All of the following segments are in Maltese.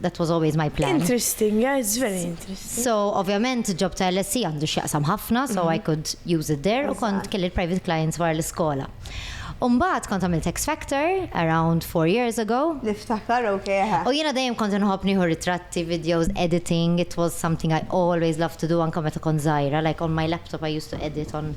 That was always my plan. Interesting, yeah, it's very interesting. So, ovvjament, ġob ta' LSE għandu x'jaqsam ħafna, so mm-hmm. I could use it there, u kont kelli private clients wara l-iskola. Umbat kont għamilt X Factor around four years ago. Niftakar, ok. U jena dajem kont nħob nieħu ritratti, videos, editing. It was something I always loved to do anka meta kont zaħira. Like on my laptop I used to edit on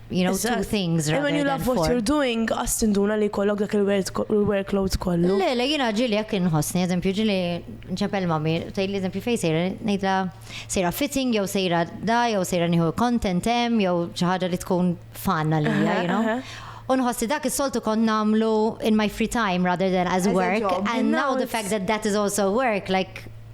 you know, two things rather when you love what you're doing, għas tinduna li kollok dak il-workload kollu. Le, le, jina ġili jek inħosni, eżempju, ġili nċepel mami, taj li eżempju fej sejra, nejdla sejra fitting, jew sejra da, jew sejra niħu content em, jew ċaħġa li tkun fanna li, you know. Unħossi dak is-soltu kon namlu in my free time rather than as work. And now the fact that that is also work, like,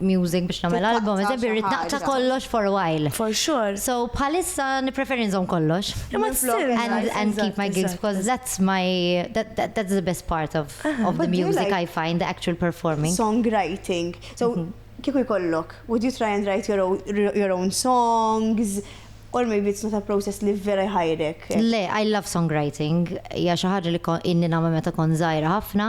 music biex nagħmel album, eżempju rrid naqta' kollox for while. For sure. So bħalissa nippreferi nżomm kollox. Imma tsir. And, and keep my gigs because that's my that, that, that's the best part of, of the music like, I find the actual performing. Songwriting. So mm -hmm. kieku jkollok, would you try and write your own, your own songs? Or maybe it's not a process li vera jħajrek. Le, I love songwriting. Ja xi ħaġa li inni nagħmel meta kon żgħira ħafna.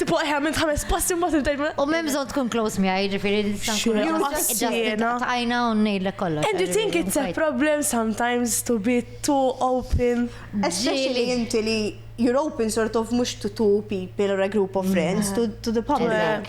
Tipo eħe għamilt ħames passi mbagħad intajt. U m'hemm bżonn tkun close mi għaj, ġifieri nista' Tajna u ngħidlek kollox. And you think it's a problem sometimes to be too open? Especially inti li you're open sort of mhux to two people or a group of friends, to, to the public.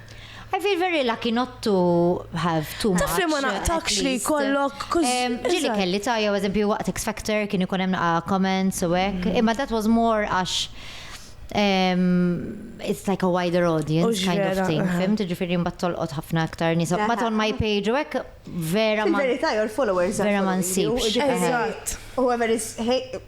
I feel very lucky not to have too much. Taf li ma naqtakx li kollok. Ġili kelli ta' jew eżempju waqt X Factor kien ikun hemm naqa' comments u hekk. Mm. Imma that was more għax it's like a wider audience kind of thing. Fim tiġifieri mbagħad tolqot ħafna aktar nies. But on my page u hekk vera ma. Fil-verità your followers. Vera ma nsibx. U hemm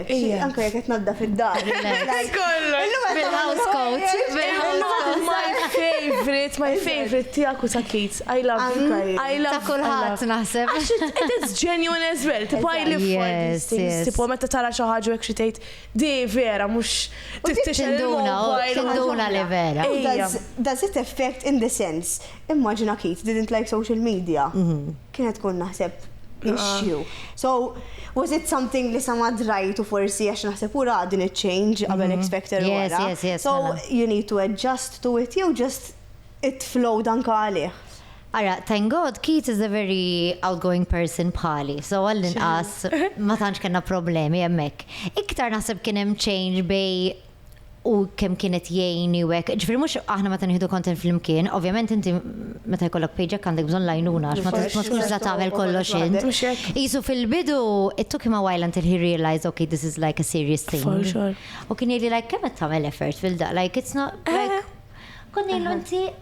Anka jek qed nadda fid-dar. Bil-house coat. My favorite, my favorite tiegħek u ta' kids. I love you guys. I love ta' kulħadd naħseb. It is genuine as well. Tipo I live for these things. Tipo meta tara xi ħaġa hekk xi tgħid di vera mhux tinduna, tinduna li vera. Does it affect in the sense Immaġina Keith didn't like social media. Kien qed tkun naħseb issue. So, was it something li sa ma drajtu forsi għax naħseb u ra din iċ-change qabel expecter u wara. So, you need to adjust to it jew just it flowed anka għalih. Ara, thank God Keith is a very outgoing person bħali. So, għall-inqas ma tantx kellna problemi hemmhekk. Iktar naħseb kien hemm change bej u kemm kienet jgħini u hekk. Ġifieri mhux aħna meta nieħdu content flimkien, ovvjament inti meta jkollok pejġek għandek bżonn lajnuna għax ma tkunx la tagħmel kollox int. Qisu fil-bidu it took him a while until he realized okay this is like a serious thing. U kien jgħidli like kemm qed tagħmel effort fil-da like it's not like kont ngħidlu inti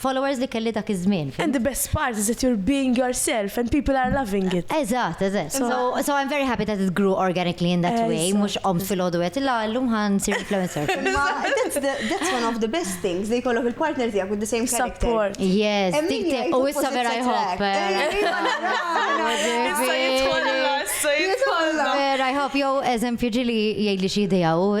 followers li kelli dak iż-żmien. And the best part is that you're being yourself and people are loving it. Eżatt, eżatt. So, so I'm very happy that it grew organically in that way, mhux qom fil-ħodu qed illa llum ħan sir influencer. that's, the, that's one of the best things li jkollok il-partner tiegħek with the same character. Support. Yes, dik u issa vera jħobb. Vera jħobb jew eżempju ġili jgħidli xi idea u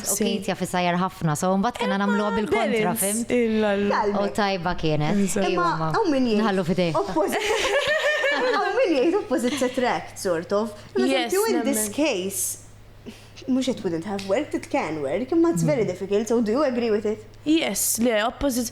U Keith jaf isajjar ħafna, so mbagħad kellna nagħmluha bil-kontra, fimt? U tajba kienet. Imma hawn min jgħid. Nħallu f'idejh. Hawn min jgħid opposites attract, sort of. Yes. You in this case, mhux it wouldn't have worked, it can work, imma it's very difficult, so do you agree with it? Yes, le, opposites.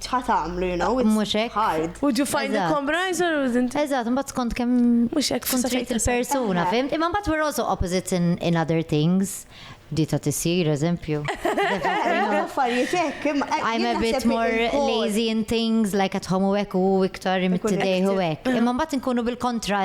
ċħat għamlu, you know, it's hard. Would you find a compromise or wouldn't? Eżat, mbatt skont kem tkun trid il-persuna, fim? Imma mbatt we're also opposites in, in other things. Di ta' tisir, eżempju. I'm a bit more lazy in things, like at home u ek u iktar imtidej u ek. Imma mbatt nkunu bil-kontra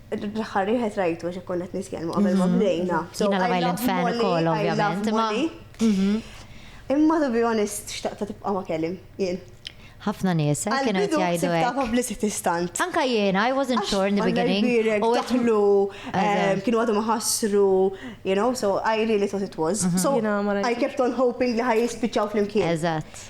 L-aħħar wieħed rajtu għax konna qed nitkellmu qabel ma bdejna. Jiena Love Island fan ukoll ovvjament. Mhm. Imma to be honest, xtaqta tibqa' ma kellim, jien. Ħafna nies, eh, kienu qed jgħidu hekk. Ta' publicity stunt. Anka jiena, I wasn't sure in the beginning. U għetlu, eh, kienu għadu maħasru, you know, so I really thought it was. Mhm. So I kept on hoping li ħaj jispiċaw fl-imkien. Eżatt.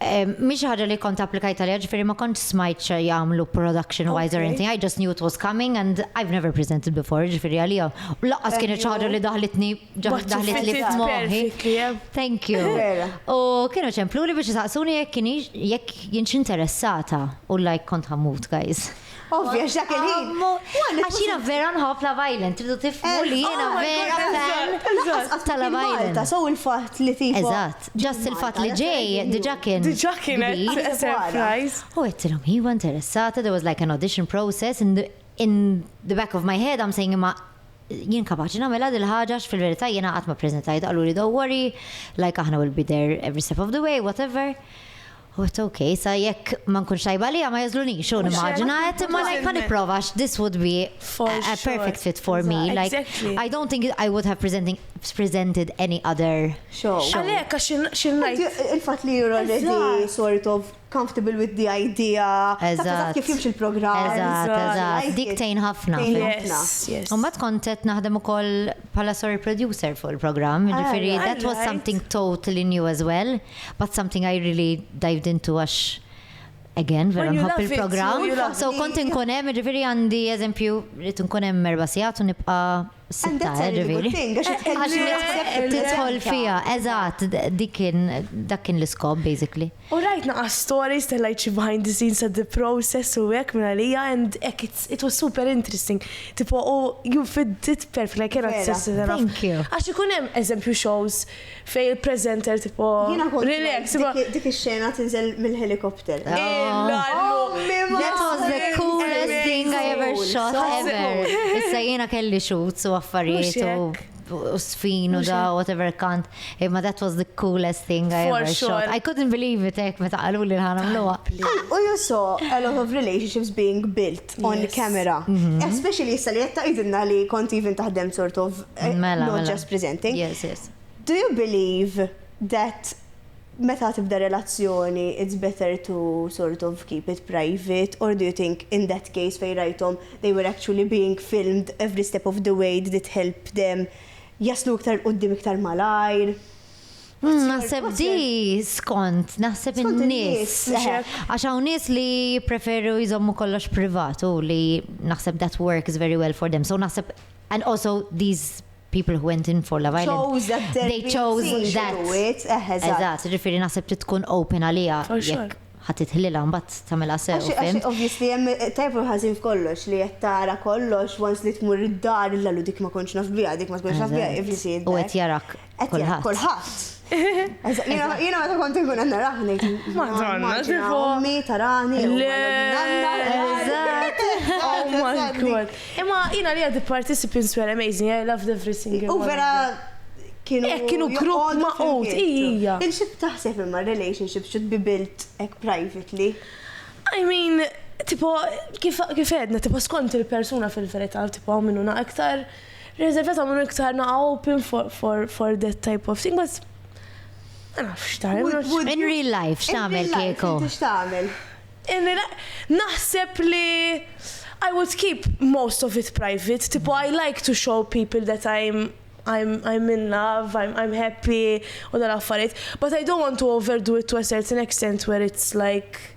Mhix ħaġa li kont applikajt għaliha, ġifieri ma kontx smajt xi jagħmlu production wise or anything, I just knew it was coming and I've never presented before, ġifieri għalija. U laqqas kienet xi ħaġa li daħlitni daħlit li f'moħħi. Thank you. U kienu ċemplu li biex saqsuni jekk kienx jekk jienx interessata u like kont ħammut guys. Ovvja, x'dak il-ħin. Għax jiena vera nħobb la violent, tridu tifmu eh, li jiena oh vera fan ta' la violent. So il-fatt li tifu. Eżatt, ġast il-fatt li ġej, diġa kien. Diġa kien surprise. U għettilom, he was interessata, there was like an audition process in the, in the back of my head, I'm saying imma jien kapaċi namela dil ħaġa fil-verità jiena qatt ma preżentajt għallu li don't worry, like aħna will be there every step of the way, whatever. But ok, sa jekk ma nkunx tajba għalija ma jagħżlunix, u nimmaġina qed imma like ħa nipprova għax this would be a perfect fit for me. Like I don't think I would have presenting presented any other show. Għalhekk għax xi ngħid. Il-fatt li you're already sort of comfortable with the idea. Eżatt. Kif jimx il-programm. Eżatt, eżatt. Dik tejn ħafna. Yes, yes. U ma tkun qed naħdem ukoll bħala sorry producer fuq il-programm, ah, ġifiri, that was something totally new as well, but something I really dived into għax again, vera nħobb il-programm. So kont nkun hemm, ġifiri għandi eżempju, rrid nkun hemm erba' sigħat u nibqa' sitta, eh, ġifiri. Għax tidħol fija, eżatt, dik kien dak kien l-iskop basically. U rajt naqas stories ta' like xi behind the scenes ta' the process u hekk minn għalija and hekk it's it was super interesting tipo u you fit it perfectly I cannot stress it enough. Vera, thank you. Għax ikun hemm eżempju shows fejn il-presenter tipo relax imma Jiena kont dik ix-xena tinżel mill-helicopter. Illa llu. That was the coolest thing I ever shot ever. Issa jiena kelli shoots u affarijiet u. usfin u da whatever kant. Imma that was the coolest thing I ever shot. I couldn't believe it ek meta qalu li ħana mluwa. U you saw a lot of relationships being built on camera. Mhm. Especially issa li jetta idinna li kont even taħdem sort of eh, mela, not mela. just presenting. Yes, yes. Do you believe that Meta tibda relazzjoni it's better to sort of keep it private or do you think in that case fejn rajthom they were actually being filmed every step of the way did it help them jaslu iktar 'l quddiem iktar malajr? What's your, what's your? Naħseb di skont, naħseb in-nies. Għax hawn nies li jippreferu jżommu kollox privat u li naħseb that works very well for them. So naħseb and also these people who went in for Love Island. Chose that therapy. They chose that. Eżatt, ġifiri naħseb li tkun open għalija. Jekk ħat itħlila mbatt tamela sew. Għax, obviously, jem tajb u ħazin f'kollox li jettara kollox, once li tmur id-dar, l-għallu dik ma konċ nafbija, dik ma konċ nafbija, if you see it. U għet jarak. Kolħat. Kolħat. Jina meta kont nkun għanna raħni. Madonna, ġifu. Ummi, tarani. Oh my god. Imma jina li għad participi in Swear Amazing, I loved every single one. U vera kienu. Ek kienu grupp ma' ut, ija. Il-xib taħseb imma relationship should be built ek privately. I mean, tipo, kif edna, tipo, skont il-persuna fil-verita, tipo, minnuna iktar. Reservata minn iktar naqa open for, for, for that type of thing, but ma nafx ta' In real life, x'tagħmel kieku? X'tagħmel? In real life, naħseb li I would keep most of it private, tipo I like to show people that I'm I'm, I'm in love, I'm, I'm happy, u dal-affarijiet, but I don't want to overdo it to a certain extent where it's like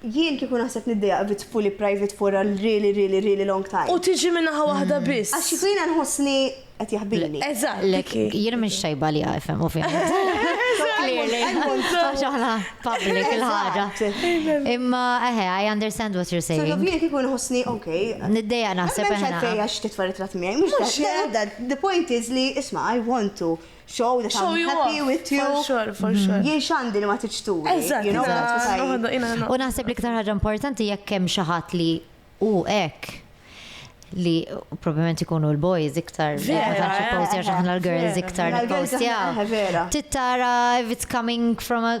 Jien kieku naħseb niddejjaq viz fully private for a really really really long time. U tiġi minn naħa waħda biss. Għax kieku jiena nħossni qed jaħbini. Eżatt. Le jien mhix tajba li ifhem ovvjament. Għax aħna public il-ħaġa. Imma eħe, I understand what you're saying. So jien kieku nħossni, ok. Niddeja naħseb eħe. Għax titfa ritrat miegħi. Mhux the point is li isma' I want to. Show that I'm happy with you. For sure, for mhm. sure. Jien xandi li ma tiċturi. Eżatt, eżatt. U naħseb li ktar ħaġa importanti jekk hemm xi ħadd li u hekk li probablement ikunu l-boys iktar ħanċi postja xaħna l-girls iktar postja. Tittara if it's coming from a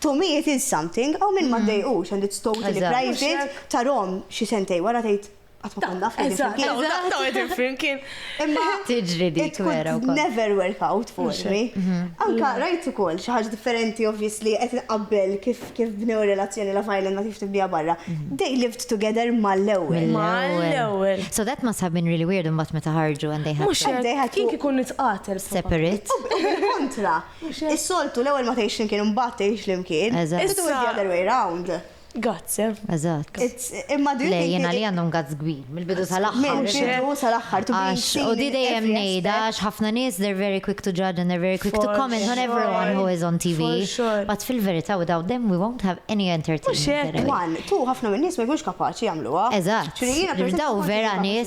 To me it is something, hawn min ma ddejqux and it's totally private, tarahom xi sentejn wara tgħid qatt ma kont naf qegħdin flimkien. Eżatt, qatt ma qegħdin flimkien. Imma tiġri dik vera wkoll. Never work out for me. Anka rajt ukoll xi ħaġa differenti obviously qed inqabbel kif kif bnew relazzjoni Love Island ma kif tibniha barra. They lived together mal-ewwel. Mal-ewwel. So that must have been really weird imbagħad meta ħarġu and they had. Mhux kien kien ikun nitqatel. Separate. Kontra. Is-soltu l-ewwel ma tgħix flimkien imbagħad tgħix flimkien. Eżatt. It was the other way round. Gazz, eh? Eżatt. Imma drinking. Le, jien għalija għandhom gazz kbir, mill-bidu sal-aħħar. Mill-bidu sal-aħħar, to be seen. U di dejjem ngħidha għax ħafna nies they're very quick to judge and they're very quick to comment on everyone who is on TV. But fil-verità without them we won't have any entertainment. One, two, ħafna min-nies ma jkunx kapaċi jagħmluha. Eżatt. Daw vera nies.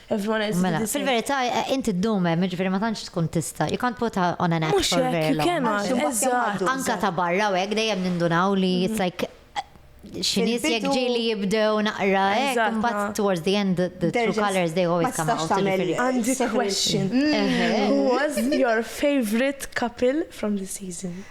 Mela, fil-verità, inti ddum hemm, jiġifieri ma tantx tkun tista', you can't put on an act for very long. Anke ta' barra u hekk dejjem nindunaw li it's like xi nies jekk ġieli jibdew naqra hekk, imbagħad towards the end the true colors they always come out. Għandi question. Who was your favorite couple from the season?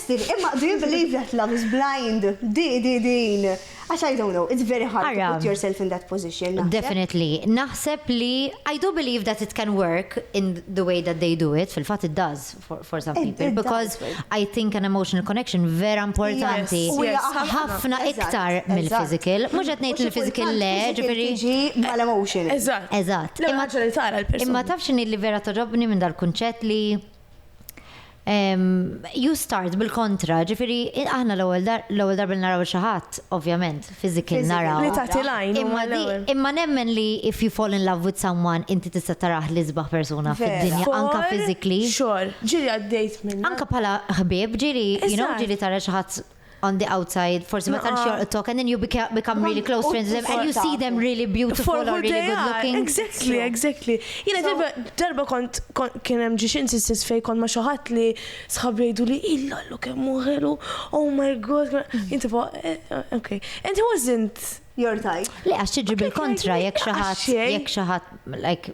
Steve, Imma do you believe that love is blind? Di, di, din. Għax I don't know, it's very hard to put yourself in that position, naħseb. Definitely. Naħseb li I do believe that it can work in the way that they do it, fil-fatt it does for some people, because I think an emotional connection vera importanti. Ħafna iktar mill-physical. Mhux qed ngħid li physical le, ġifieri. Tiġi mal-emotion. Eżatt. Eżatt. Imma tafx li vera toġobni minn dal-kunċett li You start bil-kontra, ġifiri, aħna l-ewwel darba li naraw xi ħadd, ovvjament, physically naraw. Li tagħti l-għajn. Imma nemmen li if you fall in love with someone, inti tista' tarah l-isbaħ persuna fid-dinja, anke physically. Xogħol, ġieli għaddejt minn. Anke bħala ħbieb, ġieli, you know, ġieli tara xi ħadd on the outside, forsi ma tantx jorqtok, and then you become, become really close friends with them, and you see them really beautiful or really good looking. Exactly, exactly. Jena darba, darba kont, kien hemm ġiex insistis fej kont ma xaħat li sħab jgħidu li illa l kemm muħelu, oh my god, jinti fuq, eh, eh, ok. And he wasn't your type. Le, għax tiġi bil-kontra, jek xaħat, jek xaħat, like,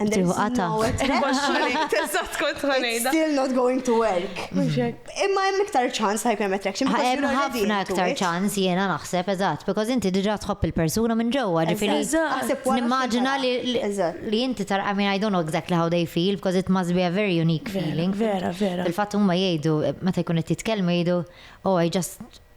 Tiħu qata. Teżat kont ħanejda. Still not going to work. Imma hemm iktar ċans hyperm attraction. Hemm ħafna iktar ċans jiena naħseb eżatt, because inti diġà tħobb il-persuna minn ġewwa, ġifieri. Nimmaġina li inti tar I mean I don't know exactly how they feel, because it must be a very unique feeling. Vera, vera. Il-fatt huma jgħidu, meta jkun qed jitkellmu jgħidu, oh I just